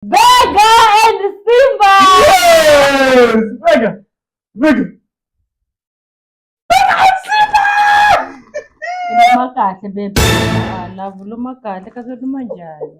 Vega and Simba. Yes! Vega! Vega! Vega and Simba! Luma kahle bebe. Ah, love luma kahle kasi luma njhani?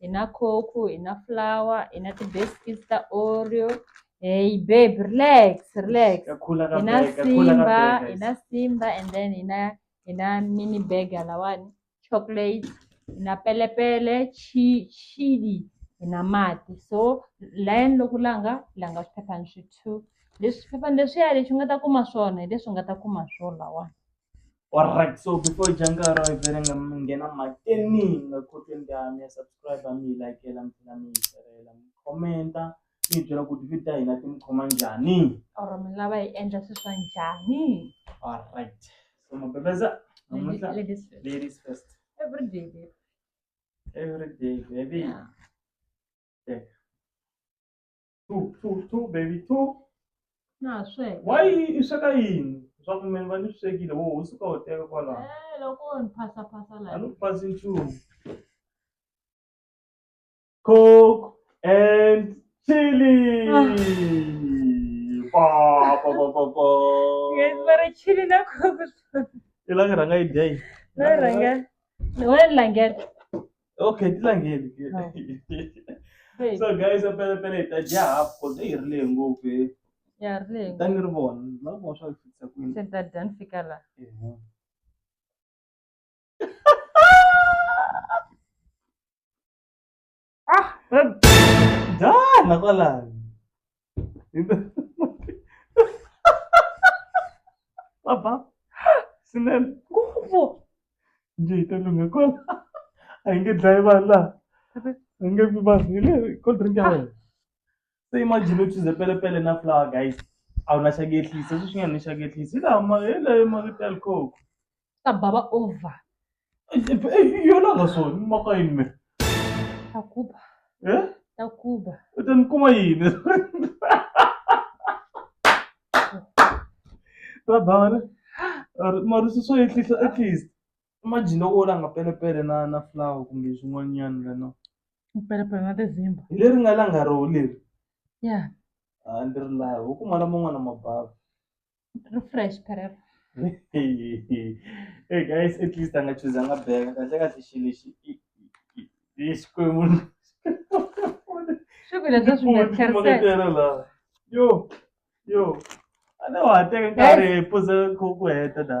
hi na coke hi na flour hi na ti-biscuit ta oreo hey babe relax relax Ya khula ka hi na bag, ya khula ka simba bag, hi guys. na simba and then hi na hi na mini bag halawani chocolate hi na pelepele chi chili hi na mati so layeni loko langa langa swiphephani swi two leswi swiphephani leswiya lexi u nga ta kuma swona hi leswi u nga ta kuma swo lawani Alright, so before Jankara, I better get on my team. The cooking down, me subscribe, me like, and I'm gonna comment. mi byela ku ti vita hina ti mi khoma njhani or mi lava hi endla swi swa njhani alright so mabebeza namuntlha ladies first every day baby every day baby yeah. two two two baby two na ha sweka why i sweka yini swa ku meni va ni swi swekile wo u suka u teka kwalaho Eh, loko wo ni phasa phasa a laha ni ku pasi nchumu coke and chili pa pa pa pa pa Guys, va ri chili na coke i la nga rhanga yi dya yi na rhanga wena langela okay ti langeni Hey, so guys a pele pele hi ta dya half cause eyi hi ri lehe ngopfu he ya ri leyi ta ni ri vona ni lava ku vona swa ku fikisa kwini se ni ta dya ni fika la Ehe. ah dana kwalani Papa. Sinel. Ngopfu. Njhe yi ta lungha kwala. A yi nge dlayi vanhu laha. A yi nge vi vanhu. Hi le cold drink ya wena. Se imagine u chuze pelepele na flower guys. A wu na xa ku ehlisa. Sweswi nga ni xa ku ehlisa. Hi laha ma hi laha marito ya likoko. ta baba over yona nga so ni maka yini me ta kuba eh ta kuba u ta ni kuma yini ta baba ne marusi swo ehlisa at least imagine loko u langa pelepele na na flower kumbe swin'wanyana lana pelepele na tizimba hi leri nga langa roho leri ya a ni ri lavi u kuma laman'wana mabava refresh career hey guys at least anga choose anga bheka kahle kahle xilo xi i- i- i- i xikwembu swi vile bya swi nga tlherisela Makatela la yo yo a ne wa teka nkarhi hi puza ku ku heta da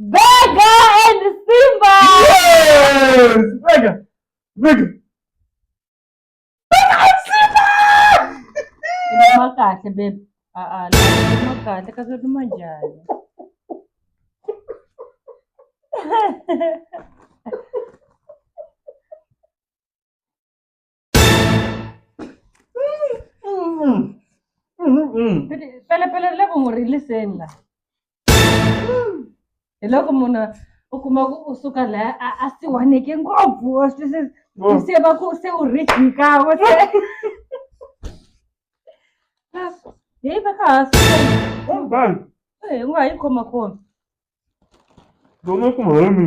Vega and Simba! Yes! Vega! Vega! Vega and Simba! Inuma kahle babe. Ah ah, inuma kahle kasi inuma njani? pele pele le ku ri listen la hi loko munhu u kuma ku u suka laya a a siwaneke ngopfu swi se Oh. se va ku se u rich nkawe se hi va ka ha Kom dan. hi nga yi khoma kona Dono kuma hami.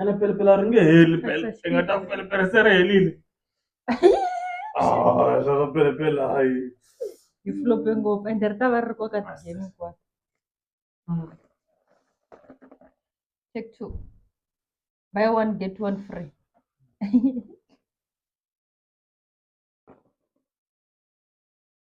ene pelepele a ri nge heli pele i nga ta pelepele se ri helile Ah, swa pelepele hayi yi flope ngopfu ende ri ta va ri ri koka ti-game hinkwato Mm. take two buy one get one free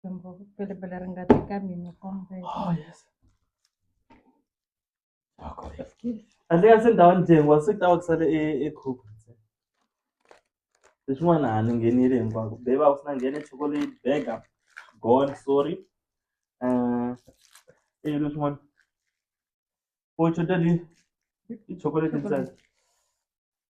riqingho available leri nga teka mina kumbe Oh, yes. Wako. Andle kasi ndhawu ndyengu wa swi tawa kusale e e cook. Leswin'wana a ni nghenile hinkwako. Beba u sina nghene chocolate burger. Gone, sorry. Uh, e leswin'wana. O chocolate i chocolate ntsena.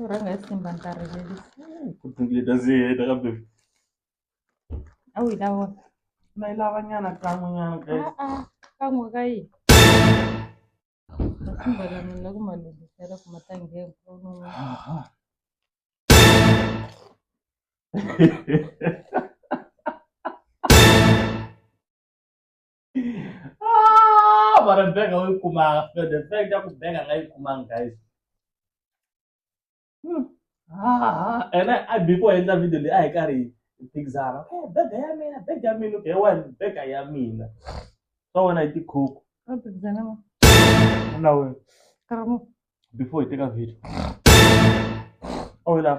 U rhanga hi simba nkarhi leli. ku tumbuleta ndzi heta kambe A wu yi lava wena? na yi lava nyana kan'we nyana guys Ah, ah, kan'we ka yini? Masimba lama ni la ku ma lunghisela ku ma ta nghena kun'wana. Ah, mara benga uyi kumanga fred the fact ya kubenga nga yi kumanga guys Hmm. Ah, and I, I before I ended video I carry things out. Okay, bega ya mina, bega ya mina, okay, one bega ya mina. So when I did cook, now before you take a video. Oh, yeah.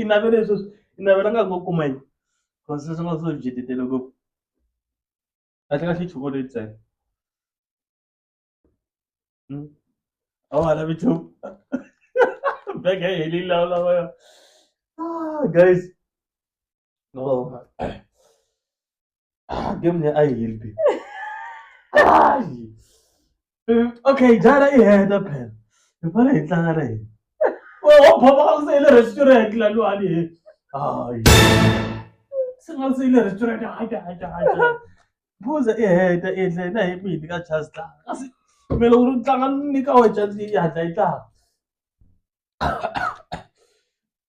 i navele sweswi i navela nga ngo kuma yini cause sweswi nga swo byitetele ngopfu kahle kahle chocolate ntsena hmm? a wa ha lavi nchumu bag ya yi helile lawa lawa ah, guys No. Ah, game leyi a yi heli be. Ai! Eh, Okay, jana i heta phela. Hi fane hi tlanga na yini. Wewe wa bhoma ka ku se ile restaurant la lo ani he. Ai. Se nga se ile restaurant ha ja ha ja ha ja. Buza i heta i hle na hi mini ka chance la. Kasi me loko ri tlanga ni ka wa chance yi hatla yi tlanga.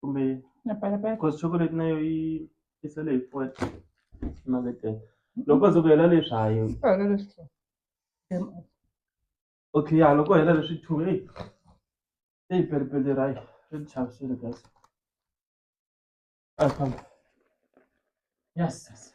kumbe Na palapala. cause chocolate na yo yi yi sale hi four emaketeni loko ze ku hela leswi ha yo Swi hela leswi two. Em, okay ya loko hela leswi two eyi eyi pelipeli ra yi ri ni chavisile guys a hi famba yes yes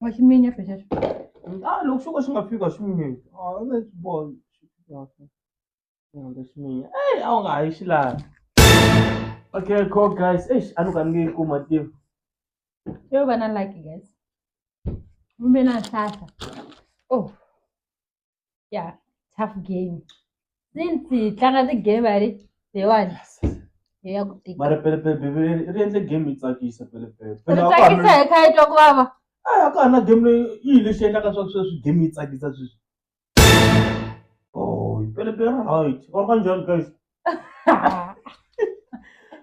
wa xi minya phesha xi a loko xo ka xi nga fika xi minya a wu nge swi voni xi fika xi rhandza xi minya eyi a wu nga ha yi xi laha okay cool guys eish a ni ka ni nge yi kuma tiva yo va na lucky guys kumbe na nhlahla oh ya tough game since hi tlanga ti-game a ri leyiwani hi ya ku tika mara pelepele bebele ri endle game yi tsakisa pelepele ri Pele a ka ha tsakisa ri- hi kha yi twa ku vava a ya ka ha ri na game leyi yi hi lexi endlaka swa sweswi game yi tsakisa sweswi oh pelepele right or kanjhani guys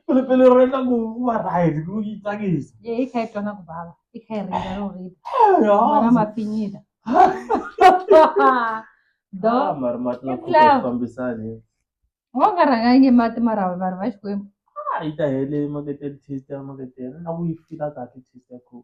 pele pele re tla go wa right go go itsakisa ye e khae tona go baba e khae re ya go re ya bona mapinyida do ah, mar mat na ku fambisani wa nga ranga nge mat mara va va xi kwembu ah ita hele makete test ya makete na ku yi fika ka test ya ku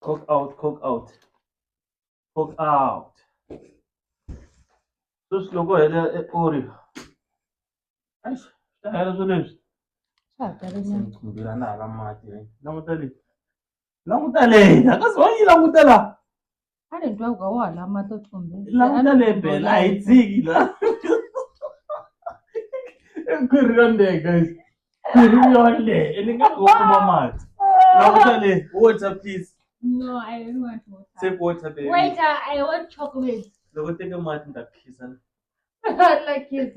Cook out, cook out. Cook out. Sus loko hele e ori. Ai, ta hela swo leswi. Swa ha tele nyana. Ngila na hala mati. Languta le. Languta le. Akazi wa yi languta la. a ni twa ku ka wa hala mati oximbeni languta le bela a hi dziki la khwiri yo lehe guys khwiri yo lehe ni nga ku kuma mati languta le water please no i don't want water take water baby wait uh, i want chocolate loko teke mati ni ta phisa like kids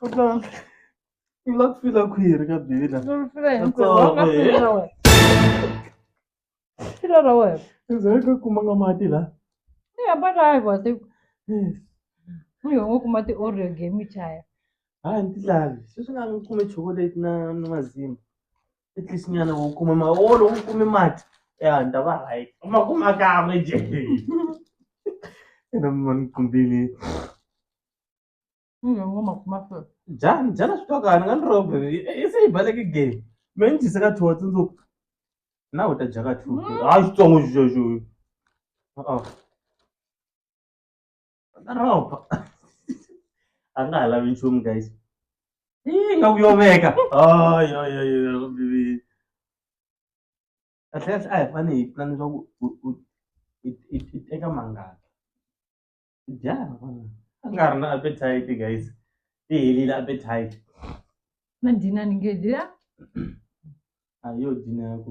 Pardon. Kulak fila khwiri ka bibila. Ndzi fila hinkwerhu. Wa nga fila ra wena. Fila ra wena. Ndzi ka kuma nga mati la. Ni hamba na hi vati. Ni ho kuma ti Oreo game chaya. Ha ni tilavi. Sweswi nga ni kume chocolate na na mazimba. at least nyana u kume maholo u kume mati ya ni ta va right u ma kuma kan'we je ena mani kumbili Mimi ngo makuma fe. jani jana swi twa kani nga ni robe i se yi baleke game me ni dyise ka two tsundzuku na u ta dya ka two hayi xitsongo xexo na ropa a nga ha lavi nchumu guys yi nga ku yo veka ayoyoyobibi kahlekahle a hi fane hi pulani leswaku i teka mangaka dyana a nga ri na appetite guys ti helile appetite na dina ni nge dya a yo dina ya ku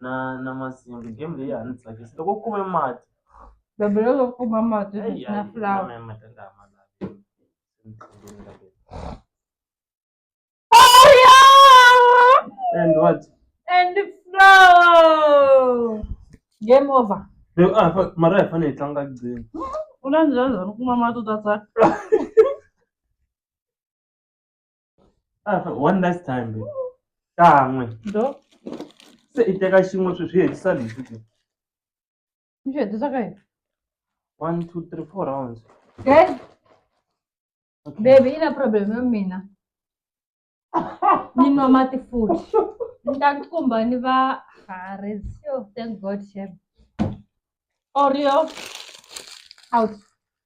na na masimba game leyi a ni tsakisa loko u kume mati Baby loko u kuma mati Ai, na ai, flower. na mati a ma lavi. And what? And flower. Game over. Be- ah, fa- mara hi fanele hi tlanga gcina U na njhani u kuma mati u ta tsaka? Ah, one last time babe. kan'we ndo se i teka xin'we swi swi hetisa leswi ke ni swi hetisa ka yini one two three four rounds Dad, Okay. baby ina problem ya mina ni nwa mati futhi ni ta kumba ni va harez yo thank god shem oreo out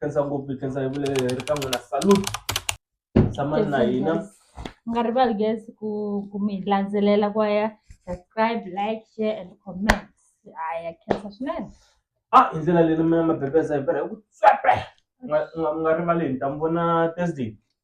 khensa ngopfu hi khensa hi vule ri ka n'wina salute tshamani na hina Yes, yes. mi nga rivali guys ku ku mi landzelela ku ya subscribe like share and comment haya khensa swinene ah hi ndlela leyi mina mabebesa hi pera hi ku tswepe Nga- nga- nga rivali hi ntambu na thursday